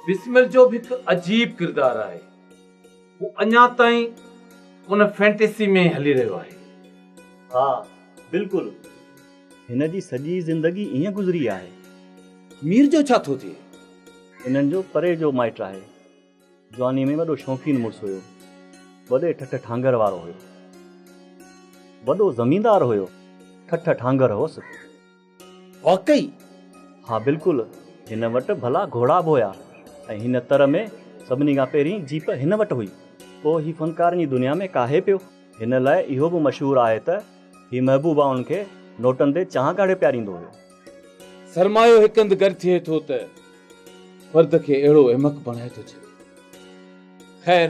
بسمل جو به هڪ عجيب ڪردار آهي. هو اڃا تائين ان فينٽيسي ۾ هلي رهيو آهي. ها بلڪل. هن جي سڄي زندگي ائين گذري آهي. مير جو ڇا ٿو ٿئي؟ انهن جو پري جو مائٽ آهي. جواني ۾ وڏو شوقين مڙس هيو. وڏي ٺٺ ٺانگر وارو هيو. وڏو زميندار هيو. ٺٺ ٺانگر هوس. واقعي؟ ها بلڪل هن وٽ ڀلا گهوڙا به هيا ۽ هن تر ۾ سڀني کان پهرين جيپ هن وٽ هئي. پوء هي فنڪارن جي دنيا ۾ ڪاهي پيو. هن لاء اهو به مشهور آهي ته هي محبوبائن کي نوٽن تي چانهه ڪاڙهي پياريندو هيو. سرمايو هڪ هنڌ گڏ ٿئي ٿو ته فرد کي اهڙو احمق بڻائي ٿو ڇڏي. خير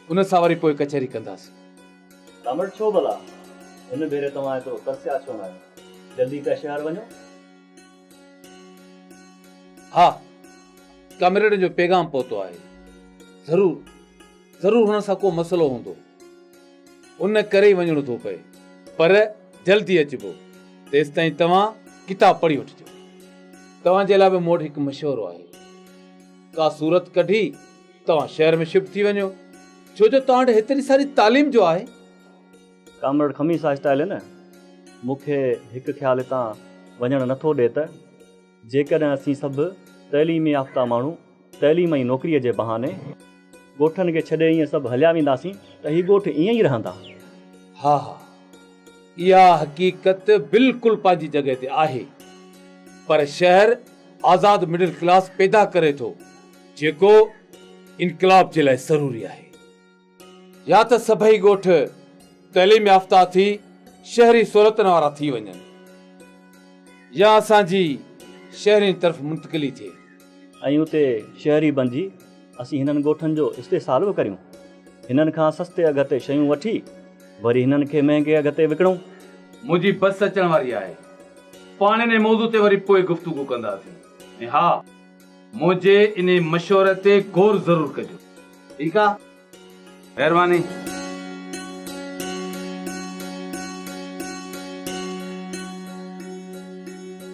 ان سان وري پوء ڪچهري ڪنداسين. ڪامريڊ ڇو ڀلا هن ڀيري توهان ايترو ترسيا ڇو نه آهيو؟ جلدي پيا شهر وڃو. ها ڪامريڊن جو پيغام پهتو آهي. ضرور ضرور هنن سان ڪو مسئلو هوندو. ان ڪري ئي وڃڻو ٿو پئي. پر جلدي اچبو. تيستائين توهان ڪتاب پڙهي وٺجو. توهان جي لاء به مون وٽ هڪ مشورو آهي. ڪا صورت ڪڍي توهان شهر ۾ شفٽ ٿي وڃو ڇو جو توهان وٽ هيتري ساري تعليم جو آهي. ڪامريڊ خميس آهستي هليو نه مون کي هڪ خيال هتان وڃڻ نه ٿو ڏي ته جيڪڏهن اسين سڀ تعليم يافته ماڻهو تعليم ۽ نوڪريء جي بهاني ڳوٺن کي ڇڏي ائين سڀ هليا وينداسين ته هي ڳوٺ ائين ئي رهندا. ها ها اها حقيقت بلڪل پنهنجي جڳهه تي آهي پر شهر آزاد مڊل ڪلاس پيدا ڪري ٿو. جيڪو انقلاب جي لاء ضروري آهي. يا ته سڀئي ڳوٺ تعليم يافته ٿي شهري سهولتن وارا ٿي وڃن يا اسان جي شهرين طرف منتقلي ٿئي. ۽ اتي شهري بنجي اسين هنن ڳوٺن جو استحصال به ڪريون. هنن کان سستي اگهه تي شيون وٺي وري هنن کي مهنگي اگهه تي وڪڻون. منهنجي بس اچڻ واري آهي. پاڻ انهي موضوع تي وري پوء گفتگو ڪنداسين. ۽ ها! منهنجي انهي مشوري تي غور ضرور ڪجو. ٺيڪ آ. مهرباني.